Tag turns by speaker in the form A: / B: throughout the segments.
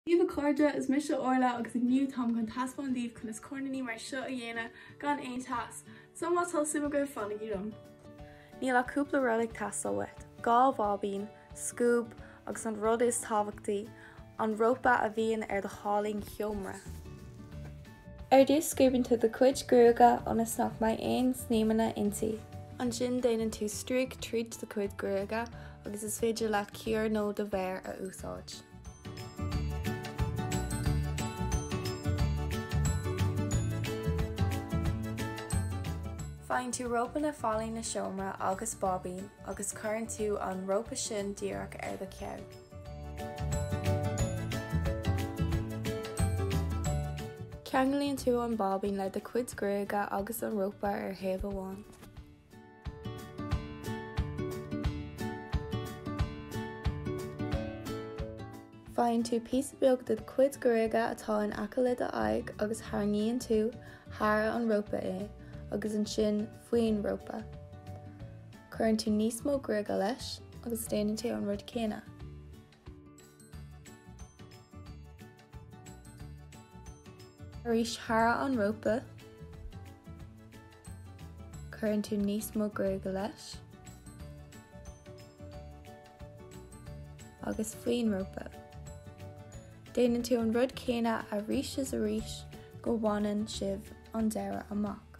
A: Haigh a chairde, Is mise Orla agus inniu táim chun taispeáint daoibh conas coirníní mar seo a dhéanamh gan aon teas. So má tá suim agaibh, fanaigí liom. Níl ach cúpla rud ag teastáil uait, dhá bháibín, scuab agus an rud is tábhachtaí, an rópa a bhíonn ar d'fhallaing sheomra. Ar dtús scuabann tú do chuid gruaige ionas nach mbeidh aon snaidhmeanna inti. Ansin déanann tú stríoc tríd do chuid gruaige agus is féidir leat cíor nó do mhéar a úsáid. Faigheann tú rópa na fallainge seomra agus báibín agus cuireann tú an rópa sin díreach ar do cheann. Ceanglaíonn tú an báibín le do chuid gruaige agus an rópa ar thaobh amháin. Faigheann tú píosa beag de do chuid gruaige atá in aice le do aghaidh agus tarraingíonn tú thar an rópa é agus ansin faoin rópa. Cuireann tú níos mó gruaige leis agus déanann tú an rud céanna. Arís, thar an rópa, cuireann tú níos mó gruaige leis, agus faoin rópa. Déanann tú an rud céanna arís is arís go bhaineann sibh an deireadh amach.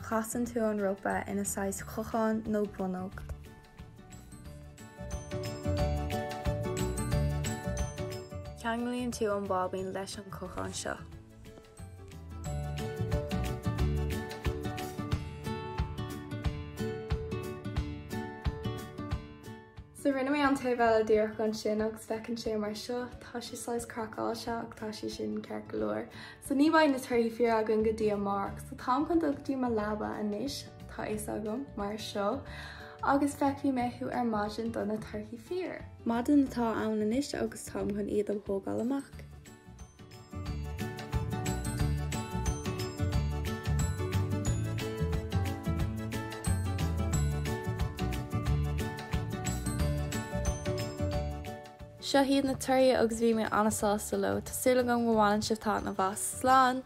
A: Casann tú an rópa ina saghas chocháin nó bonnóg. Ceanglaíonn tú an báibín leis an chochán seo. So rinne mé an taobh eile díreach ansin agus feiceann sé mar seo, tá sé saghas craiceáilte ach tá sé sin ceart go leor. So ní bheidh na torthaí fíor againn go dtí amárach. So táim chun dul go dtí mo leaba anois, tá fhios agam, mar seo, agus feicfidh mé thú ar maidin do na torthaí fíor. Maidin atá ann anois agus táim chun iad a thógáil amach. Seo iad na torthaí agus bhí mé an-sásta leo. Tá súil agam go bhaineann sibh taitneamh as. Slán!